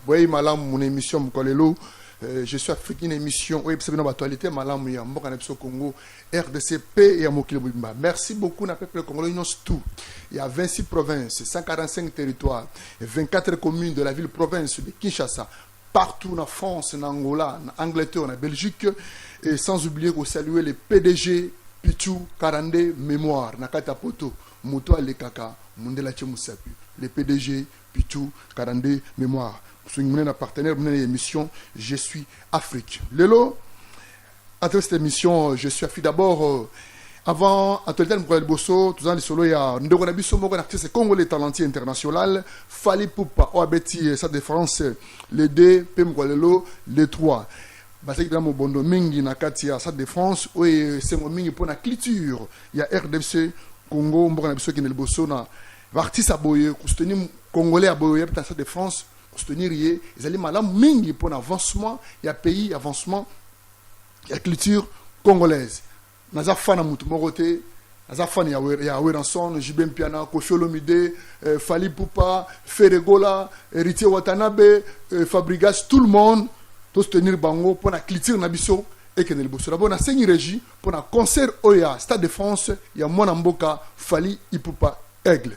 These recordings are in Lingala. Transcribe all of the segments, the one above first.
Boyeyi malamu muna emission mokolo lelo euh, je suis afrique une émission oyo ebisa bino batualité malamu ya mboka na biso congo rdc pe ya mokili mobimba merci beaucoup na peuple congolais nyonso tout ya 26 province 145 territoire 24 communes de la ville province de kinshasa partout na france na angola na angleterre na belgique et sans oublier kosalue le pdg pichu 42 mémoire na kati ya poto moto alekaka mondela ce mosapi le pdg Pitshou kara nde memoire msungi munene na partenaire munene ya emission je suis Afrique lelo à travers cette émission je suis Afrique d'abord euh, avant actualité mokolo ya liboso toza na lisolo ya ndeko na biso moko na artiste congolais talentier international Fally Ipupa oyo abeti euh, Stade de France euh, le 2 mpe mokolo ya lelo le 3 bazalaki mpenza mobondo mingi na kati ya Stade de France oyo esengo mingi mpo na culture ya RDC Congo mboka na biso ekende liboso na Ba artistes ya boye ko soutenir congolais ya boye oya peut-être na Stade de France ko soutenir ye ezali malamu mingi mpo na avancement ya pays, avancement ya culture congolaise. Naza fan ya moto moko te, naza fan ya, Wer- ya Werrason, JB Mpiana, Koffi Olomide, euh, Fally Ipupa, Ferre Gola, Heritier Watanabe, euh, Fabrigas, tout le monde to soutenir bango mpo na culture na biso ekende liboso. D'abord nasengi Regie mpo na concert oyo ya Stade de France ya mwana mboka Fally Ipupa Aigle.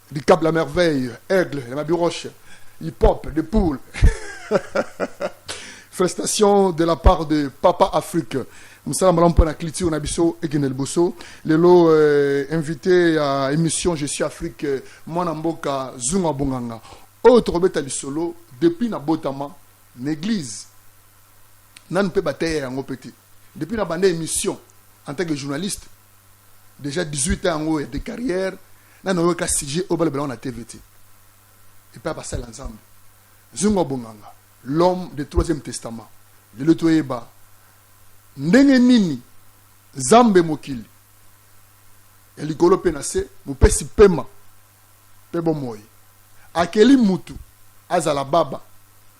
Dicap la merveille, aigle, la mabiroche, hip-hop, de poule. Félicitations de la part de Papa Afrique. mosala malamu mpo na culture na biso ekende liboso lelo euh, invité ya émission je suis afrique euh, mwana mboka zunga bonganga oyo tokobeta lisolo depuis nabotama na église nanu mpe bateya yango mpe te depuis na banda émission en tant que journaliste dejà 18 ans yango ya de carrière nanu ayoka sujet oyo balobela yango na tv te epai ya basali ya nzambe zungu ya bonganga l'homme de troisième testament lelo toyeba ndenge nini nzambe mokili ya likolo mpe na se mopesi pema mpe bomoi akeli mutu azala baba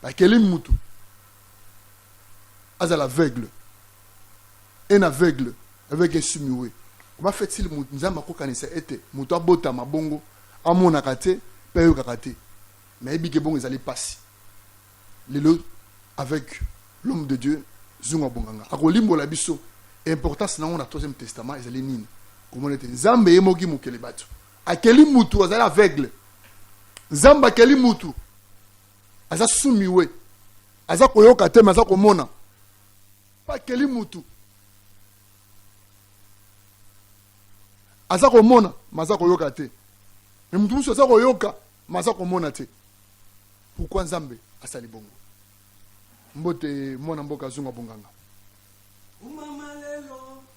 bakeli mutu azala aveugle un aveugle avec un sumiwe comment fait-il moto nzambe akokanisa ete moto abotama bongo amonaka te mpe ayokaka te me ayebi ke bongo ezali mpasi lelo avec l'homme de dieu zungu abonganga akolimbola biso importance na yango na troisième testament ezali nini komona ete nzambe ye moki mokele bato akeli mutu azali aveugle nzambe akeli mutu aza sumiwe aza koyoka te me aza komona pakeli mutu aza komona me aza koyoka te me mutu mosusu aza koyoka me aza komona te pourkui nzambe asali bongo mbote mwana mboka azunga bonganga umama lelo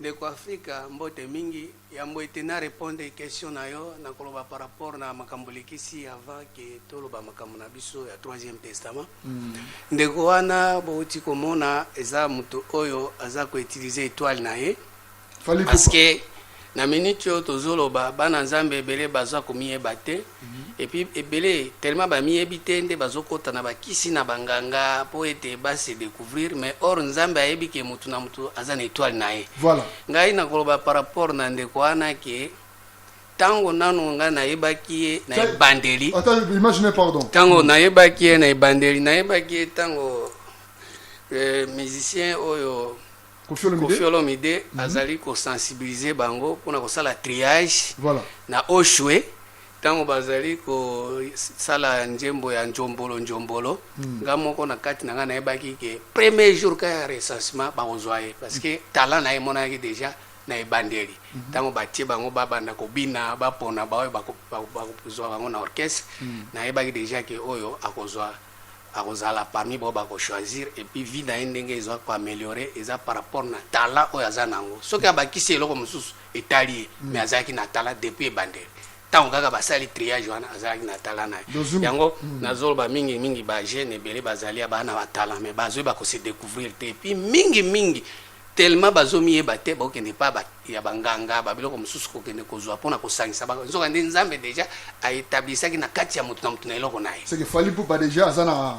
Ndeko Africa mbote mingi, yambo ete na repondre question na yo, nakoloba par rapport na makambo olekisi avant que toloba makambo na biso ya troisième testament. Ndeko wana bowuti komona eza moto oyo aza ko utiliser etoile na ye Fally parce Ipupa. que na minute oyo tozoloba bana Nzambe ebele baza komiyeba te. et puis ebele tellement ba miyebi te nde bazokota na bakisi na banganga mpo ete ba se découvrir mais or nzambe ayebi ke motu na motu aza na étoile na ye voilà ngai nakoloba par rapport na ndeko wana ke ntango nanu ngai nayebaki ye na ebandeli ntango nayebaki ye na ebandeli nayebaki ye ntango euh, musicien oyo Koffi Olomide. Koffi Olomide mm -hmm. azali ko sensibiliser bango pona ko sala triage voilà. na Oshwe tango bazali ko sala nzembo ya njombolo njombolo mm. nga moko na kati na nga nayebaki ke premier jour ka ya recensement bakozwa ye parce que mm. talent na ye emonanaki déjà na ebandeli mm -hmm. tango batie bango babanda kobina bapona baoyo bakozwa bango na orchestre mm. nayebaki déjà ke oyo akozwa Akozala parmi baoyo bako choisir et puis vie na ye ndenge ezo ko ameliorer eza par rapport na talent oyo aza na yango. Soki abakisi eloko mosusu etali ye mais azalaki na talent depuis ebandeli. Tango kaka basali triage wana azalaki na talent na ye. Yango nazo loba mingi mingi ba jeunes ebele bazali ya bana ba talent mais bazwe bako se decouvrir te et puis mingi mingi Tellement bazo miyeba te bokende epa ba ya ba nganga ba biloko mosusu kokende kozua pona kosangisa ba nzoka nde nzambe dejà a etablisaki na kati ya moto na moto na eloko na ye. Seke Fally Ipupa dejà aza na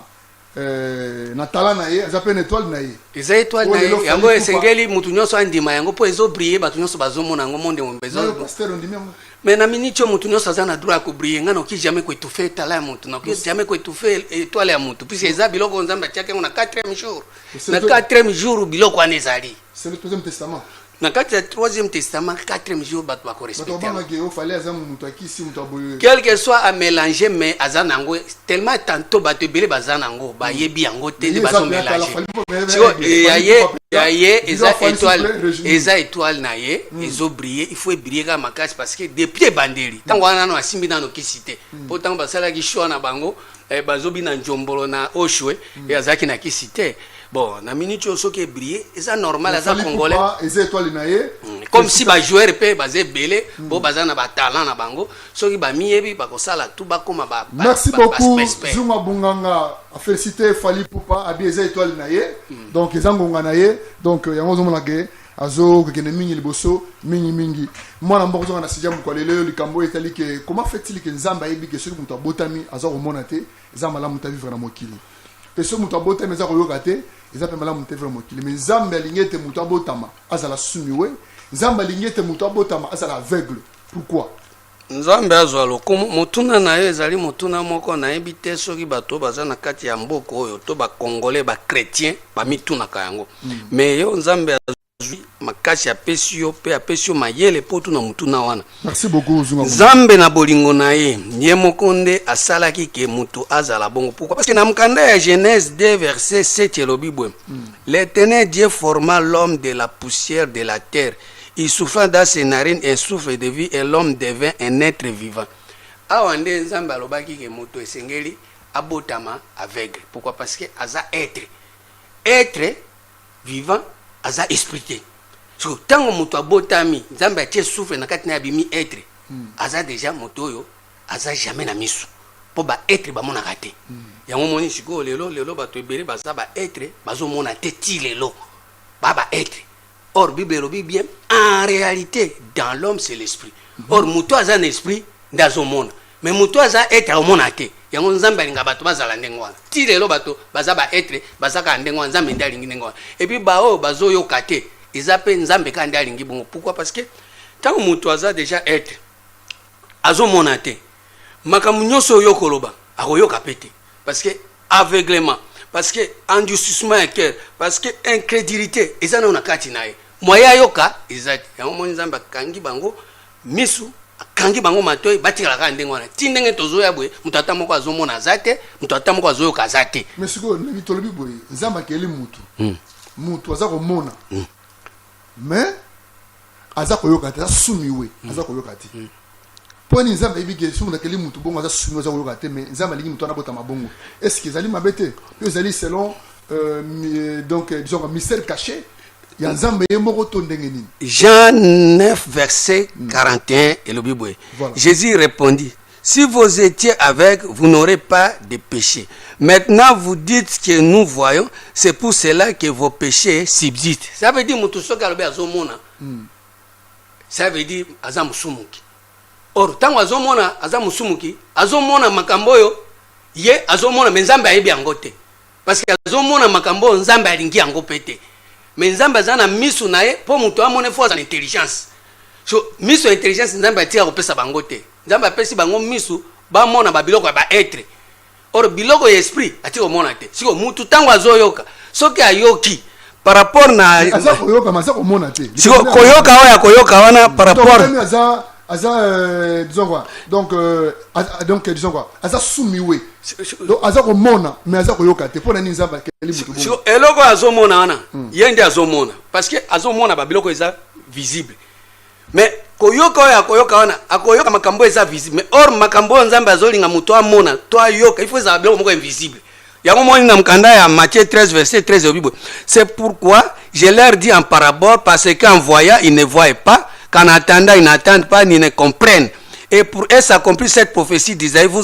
euh, na talent na ye aza pe na etoile na ye. Eza etoile na ye yango esengeli moto nionso andima yango po ezo briller bato nionso bazo mona yango monde mobimba ezo. Nayo pasteur ondimi yango? Mais na minute oyo moto nionso aza na droit ya ko briller nga noki jamais ko etouffer talent ya moto noki jamais ko etouffer etoile ya moto puisque eza biloko nzambe atiaki yango na quatrième jour. na quatrième jour biloko wana ezali na kati ya troisième testament quatrième jour bato bakorespectequelque soit amélange mais aza na yango tellement tantôt bato ebele baza na yango bayebi yango te nde bazomélange ya ye eza étoile eza étoile na ye hmm. ezobrille il faut ebrille kaka makasi parce que depuis ebandeli ntango wana nano asimbi nano kisi te mpo hmm. ntango basalaki choix na bango eh, bazobi na njombolo na oshwe mm. e azalaki na kisi te bon na minute oyo soki ebrie eza normal aza congolais eza étoile na ye mm. comme si bajoueur mpe baza ebele mm. po baza na batalent na bango soki bamiyebi bakosala tu bakóma merci beaucoup zuma bunganga afélicité fali pupa abi eza étoile na ye mm. donc eza ngonga na ye donc euh, yango ozomonake azo kekende mingi liboso mingi mingi mwana mboko zonga na sija mokwa lelo yo likambo etali ke koma fetili ke nzambe ayebi ke soki moto abotami aza komona te eza malamu ta vivre na mokili mpe soki moto abotami aza koyoka te eza mpe malamu te vivre mokili me nzambe alingi ete moto abotama azala sumiwe nzambe alingi ete moto abotama azala aveugle pourquoi Nzambe azwa lokumu. Motuna na yo ezali motuna moko nayebi te soki bato oyo baza na kati ya mboka oyo to ba congolais ba chretiens bamitunaka yango mm. mais yo Nzambe azwi makasi apesi yo mpe apesi yo mayele mpo otuna motuna wana. Merci beaucoup Zunga. Nzambe na bolingo na ye ye moko nde asalaki ke moto azala bongo. Pourquoi? Parce que na mokanda ya Genèse 2 verset 7 elobi boye mm. L'Éternel Dieu forma l'homme de la poussière de la terre Il souffra dans ses narines un souffle de vie et l'homme devint un etre vivant. Awa nde Nzambe alobaki ke moto esengeli abotama aveugle. Pourquoi? Parce que aza etre. Etre vivant aza esprit te. So tango moto abotami, Nzambe atie souffle na kati na abimi etre. Hmm. Aza deja moto oyo aza jamais na misu. Po ba etre bamonaka te. Hmm. Yango moni sikoyo lelo lelo bato ebele baza ba etre bazomona te ti lelo. Ba ba etre. Or bible elobi bien en realite dans l'homme c'est l'esprit. Mm -hmm. Or mutu aza na esprit nde azomona mais mutu aza etre aomona te yango nzambe alinga bato bazala ndenge wana ti lelo bato baza baetre baza kaka ndenge wana nzambe nde alingi ndenge wana epuis baoyo bazoyoka te eza mpe nzambe kaka nde alingi bongo pourkui parce que ntango moto aza deja etre azomona te makambo nyonso oyo okoloba akoyoka mpe te parce que aveuglement parce que endurcissement ya cœur parce que incrédulité eza nayo na kati na ye moye ayoka eza te yango moni nzambe akangi bango misu akangi bango matoi batikala kaka ndenge wana ti ndenge tozoya boye moto ata moko azomona aza te moto ata moko azoyoka aza te mais sikoyo nabi tolobi boye nzambe akeli motu motu hmm. aza komona hmm. mais aza koyoka te aza sumiwe mm. aza koyoka te mm. mpo nini nzambe ayebi ke soki nakeli motu bongo aza sumiwe aza koyoka te mais nzambe alingi motu wana abotama bongo est ce que ezali mabe te yo ezali selon euh, euh, donc euh, disons mystère caché ya nzambe ye moko to ndenge nini jean 9 verset 41 mm. elobi boye jésus répondit Si vous etiez avec, vous n'aurez pas de péché. Maintenant, vous dites que nous voyons, c'est pour cela que vos péchés subsistent. Ça veut dire mutu soki alobi azomona. Hmm. Ça veut dire aza musumuki. Or tango azomona aza musumuki, azomona makambo oyo ye azomona mais Nzambe ayebi yango te. Parce que azomona makambo oyo Nzambe alingi yango pe te. Mais Nzambe aza na misu na ye po mutu amone fo aza na intelligence. So misu ya intelligence Nzambe atika kopesa bango te. Nzambe apesi bango misu bamona ba biloko ya ba etre or biloko ya esprit ati komona te. Siko mutu tango azoyoka soki ayoki par rapport na Mais aza koyoka mais aza komona te. Siko Likambo nini koyoka akomona? oyo akoyoka wana par Donc, rapport Kagame aza aza euh, disons quoi donc euh, aza- donc euh, disons quoi aza sumiwe donc aza komona mais aza koyoka te mpo na nini nzambe akeli moto bongo siko eloko oyo azomona wana ye nde azomona parce que azomona ba biloko eza visible mais koyoka oyo akoyoka wana akoyoka makambo eza visible mais or makambo oyo nzambe azolinga moto amona to ayoka ifo ezala biloko moko invisible yango moni na mokanda ya matthieu 13 verset 13 elobi boye c'est pourquoi je leur dis en parabole parce qu'en voyant ils ne voient pas qu'en attendant ils n'attendent pas ni ne comprennent et pour eux s'accomplit cette prophétie d'Isaïe vous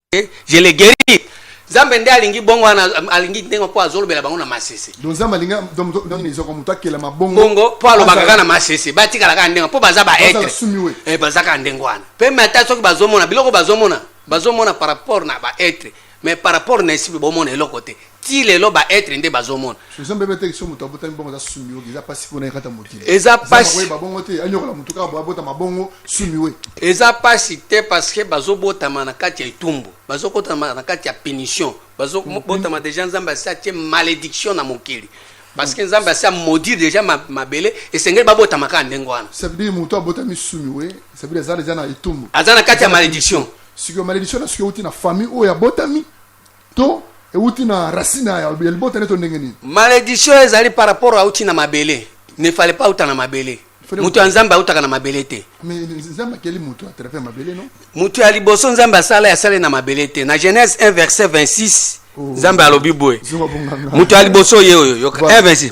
Eh, je le guéri nzambe nde alingi bongo wana alingi ndenge mpo azolobela bango na masese nzambe alingi ezoko moto akelama bongo mpo alobaka kaka na masese batikala kaka ndenge mpo baza baetre eh, baza kaka ndenge wana mpe me ata soki bazomona biloko bazomona bazomona par rapport na baetre mais par rapport na esipe bomona eloko te ti lelo ba etre nde bazomona eza mbebe te kiso moto abotami bongo aza sumi oki eza mpasi mpona ekata motili eza mpasi babongo te anyokola motu kaka boabota mabongo sumi we eza mpasi te parce que bazobotama na kati ya etumbu bazokotama na kati ya punition bazobotama mm-hmm. deja nzambe asi atie malédiction na mokili parce que mm. nzambe asi amodire deja mabele esengeli babotama kaka ndenge wana sabidi motu abotami sumi we sabidi aza deja na etumbu aza na kati ya malédiction sikoyo malédiction na sikoyo euti na famille oyo abotami to euti na racine ya libota ne to ndenge nini malediction ezali par rapport auti na mabele ne fale pas auta na mabele moto ya nzambe autaka na mabele te moto ya liboso nzambe asala asali na mabele te na genèse 1 verset 26 nzambe alobi boye moto ya liboso ye oyo yoka 1 26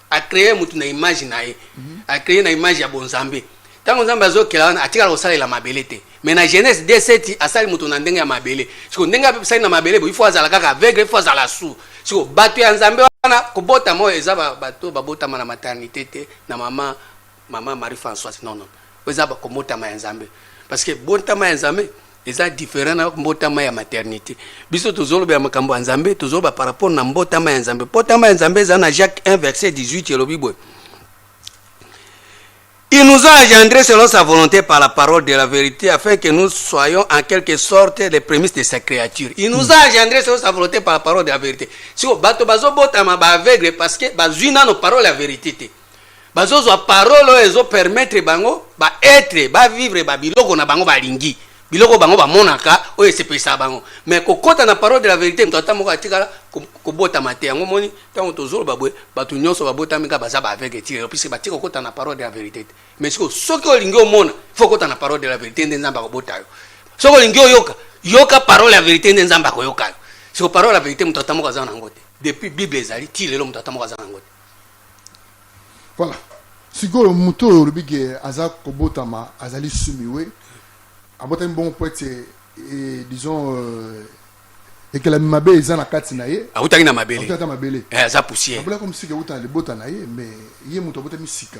a cree mutu na image na ye a cree na image ya bonzambe ntango nzambe azokela wana atikala kosalela mabele te mais na genèse de seti asali moto na ndenge ya mabele siko ndenge asali na mabele bo ifo azala kaka aveugle ifo azala su siko bato ya nzambe wana kobotama oyo eza bato babotama na maternité te na mama Maman Marie Françoise non non oyo eza bakomotama ya Nzambe parce que bontama ya Nzambe eza different na mbotama ya maternité biso tozolobela makambo ya Nzambe tozoloba par rapport na mbotama ya Nzambe mbotama ya Nzambe eza na Jacques 1 verset 18 elobi boye Il nous a engendrés selon sa volonté par la parole de la vérité, afin que nous soyons en quelque sorte les prémices de sa créature. Il nous a hmm. engendrés selon sa volonté par la parole de la vérité. Si vous bateau bazo botama ba aveugle parce que bazui nano parole la vérité. bazozwa parole oyo ezo permettre bango ba etre ba vivre ba biloko na bango balingi biloko bango bamonaka oyo esepelisa bango mais kokota na parole de la verité moto ata moko atikala kobotama te yango moni ntango tozoloba boye bato nyonso babotami kaka baza baaveugle ti lelo puisque batika kokota na parole de la verité te mais sikoyo soki olingi omona fo okota na parole de la verité nde nzambe akobota yo soki olingi oyoka yoka parole ya verité nde nzambe akoyoka yo siko parole ya verité moto ata moko aza na yango te depuis bible ezali ti lelo moto ata moko aza na yango te Voilà. Sikoyo moto oyo olobi ke aza kobotama azali sumiwe abotami bongo po ete eh, disons euh, ekelami mabe eza na kati na ye awutaki na mabele awutaki na mabele eh, aza poussière abulaki mosika ewuta na libota na ye mais ye moto abotami sika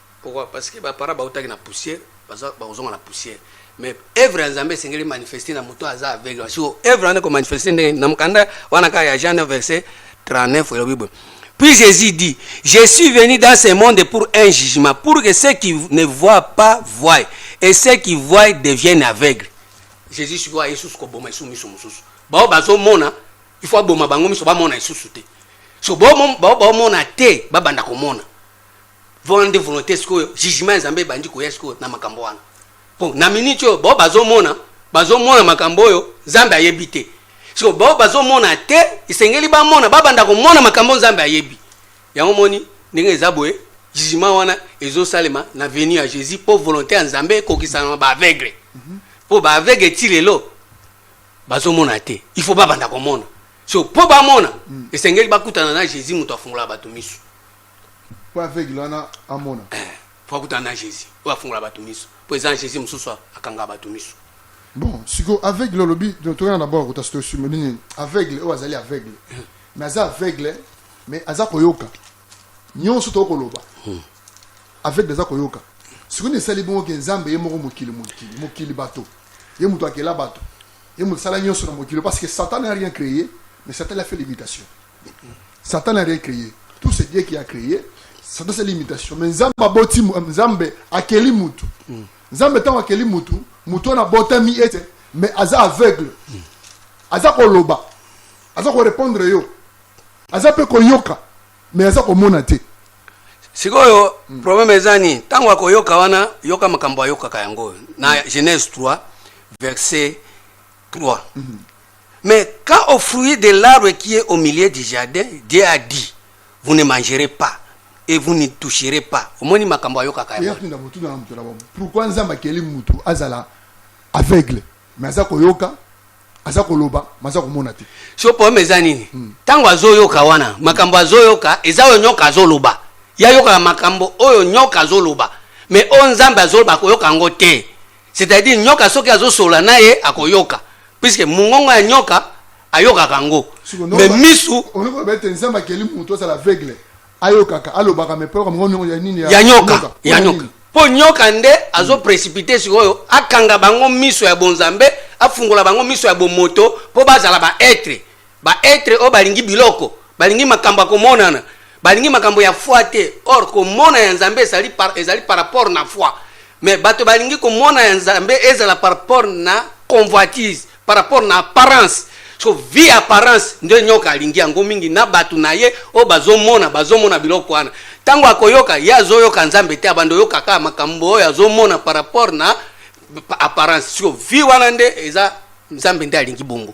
Pourquoi? Parce que ba parents bawutaki na poussière, baza bakozonga na poussière. Mais œuvre ya Nzambe esengeli manifester na moto aza aveugle. Parce que œuvre wana eko manifester ndenge na mokanda wana kaka ya Jean 9 verset 39 elobi boye. Puis Jésus dit, je suis venu dans ce monde pour un jugement, pour que ceux qui ne voient pas voient et ceux qui voient deviennent aveugles. Jésus sikoyo aye susu koboma esu miso mosusu. Bao bazomona, il faut aboma bango miso bamona esusu te. So baomona te, babanda komona. Vraiment wana nde volonte sikoyo jugement ya Nzambe ebandi koya sikoyo na makambo wana. Po na minute oyo bao bazomona bazomona makambo oyo Nzambe ayebi te. Sikoyo bao bazomona te esengeli bamona babanda komona makambo oyo Nzambe ayebi. Yango omoni ndenge eza boye jugement wana ezosalema na venue ya Jesus po volonte ya Nzambe ekokisana na ba aveugle. Po ba aveugle ti lelo bazomona te il faut babanda komona. So po bamona esengeli bakutana na Jesus moto afungolaka bato miso. po aveugle wana amona eh, po akutana na jesus oyo afungola bato miso po eza na jesus mosusu akangaka bato miso bon siko aveugle olobi tokana na boko tasitosimo nini aveugle oyo azali aveugle hmm. mais aza aveugle mais aza koyoka nyonso tokoki koloba hmm. aveugle aza koyoka sikoyo nini esali bongo ke nzambe ye moko mokili mokili mokili bato ye moto akela bato ye moto asala nyonso na mokili parce que satan n'a rien créé mais satan a fait l'imitation Satan n'a rien créé. Tout c'est Dieu qui a créé. Satan c'est l'imitation. Mais Nzambe aboti euh, Nzambe akeli mutu. Hmm. Nzambe tango akeli mutu, mutu wana botami ete mais aza aveugle. Hmm. Aza koloba. Aza ko répondre yo. Aza pe koyoka mais aza komona te. sikoyo mm. problème eza nini ntango akoyoka wana yoka makambo ayokaka yango na genèse 3 verset 3 mm -hmm. Mais quand au fruit de l'arbre qui est au milieu du jardin, Dieu a dit, vous ne mangerez pas et vous ne toucherez pas. Omoni makambo ayokaka yango. Eyakunda motuna na moto na bango. Pourquoi Nzambe akeli mutu azala aveugle mais aza koyoka aza koloba maza komona te so problème eza nini ntango hmm. azoyoka wana makambo azoyoka eza oyo nyoka azoloba ye ayokaka makambo oyo nyoka azoloba mais oyo nzambe azoloba akoyoka yango te C'est-à-dire nyoka soki azosola naye akoyoka puisque mungongo ya nyoka ayokaka ngo mais misu olobete nzambe akeli mutu azala aveugle ayokaka alobaka mais poloka mongongo ya nini ya nyoka ya nyoka mpo nyoka nde azo précipité sikoyo akanga bango miso ya bonzambe afungola bango miso ya bomoto mpo bazala ba être Ba etre oyo balingi biloko, balingi makambo ya komonana, balingi makambo ya foi te. Or komona ya Nzambe ezali par, ezali par rapport na foi. Mais bato balingi komona ya Nzambe ezala par rapport na convoitise, par rapport na apparence. So vie apparence nde nyoka alingi yango mingi na bato na ye oyo bazomona, bazomona biloko wana. Ntango akoyoka ye azoyoka Nzambe te, abanda oyoka kaka makambo oyo azomona par rapport na apparence. So vie wana nde eza Nzambe nde alingi bongo.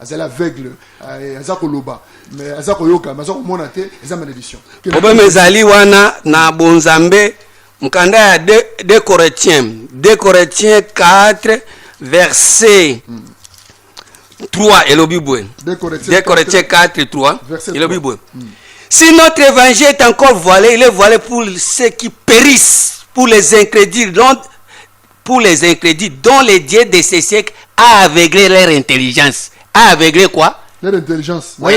azali aveugle eh, aza koloba mais aza koyoka mais aza komona te eza malédiction problème ezali wana na bonzambe mokanda ya de, de corinthiens de corinthiens 4 verset hmm. 3 elobi boye de corinthiens 4 3 elobi boye hmm. si notre évangile est encore voilé il est voilé pour ceux qui périssent pour les incrédules donc pour les incrédules dont les dieux de ce siècle a aveuglé leur intelligence. A aveuglé quoi Leur intelligence. Oui.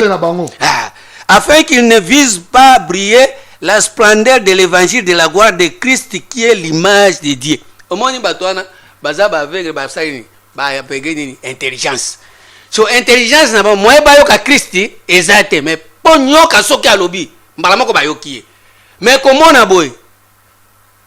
Ah. Afin qu'ils ne visent pas briller la splendeur de l'évangile de la gloire de Christ qui est l'image de Dieu. omoni bato wana baza baaveugle basali nini baaveugle nini intelligence so intelligence na bango moye bayoka kristi eza te mais mpo nyoka soki alobi mbala moko bayoki ye mais komona boye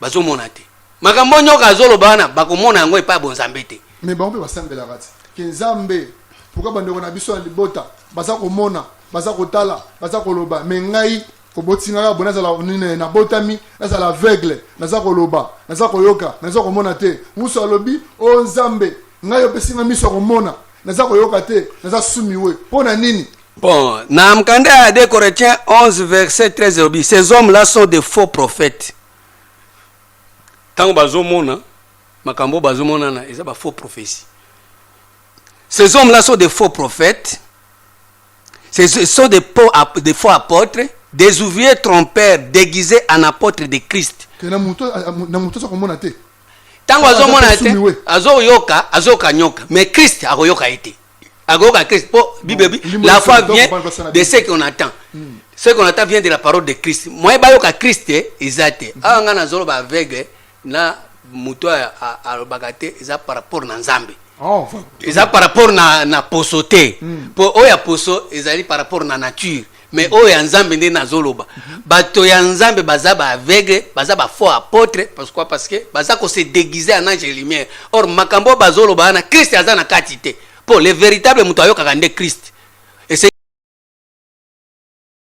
bazo mona te makambo nyoka azo loba wana bako mona yango epa bo nzambe te mais bango pe ba sambela kati ke nzambe pourquoi ba ndeko na biso na libota baza ko mona baza ko tala baza ko loba mais ngai oboti ngai abona zala nini na botami na zala aveugle naza ko loba naza ko yoka naza ko mona te musu alobi o oh, nzambe ngai opesi ngai miso ko mona naza ko yoka te naza sumiwe pona nini Bon, na mkanda ya 2 Corinthiens 11 verset 13 elobi ces hommes là sont des faux prophètes. Tango bazomona makambo bazomonana eza ba faux prophétie. Ces hommes là sont des faux prophètes. Ce sont des, faux, des faux apôtres, des ouvriers trompeurs déguisés en apôtres de Christ. Tango azomona te, azoyoka, azoyoka nyoka, mais Christ akoyoka ye te. akoyoka christ mpo bible ebi la foi vient de ce qu'on attend hmm. ce qu'on attend vient de la parole de christ moye bayoka christ eh, eza te hmm. awa ngai nazolo baaveugle na moto oyo alobaka te eza par rapport na nzambe oh, eza par rapport na, na poso te mpo hmm. oyo ya poso ezali par rapport na nature mais oyo ya nzambe nde nazoloba bato ya nzambe baza ba aveugle baza ba faux apôtre pourquoi parce que baza ko se déguiser en ange lumière or makambo oyo bazoloba wana krist aza na kati te mpo le véritable moto ayokaka nde krist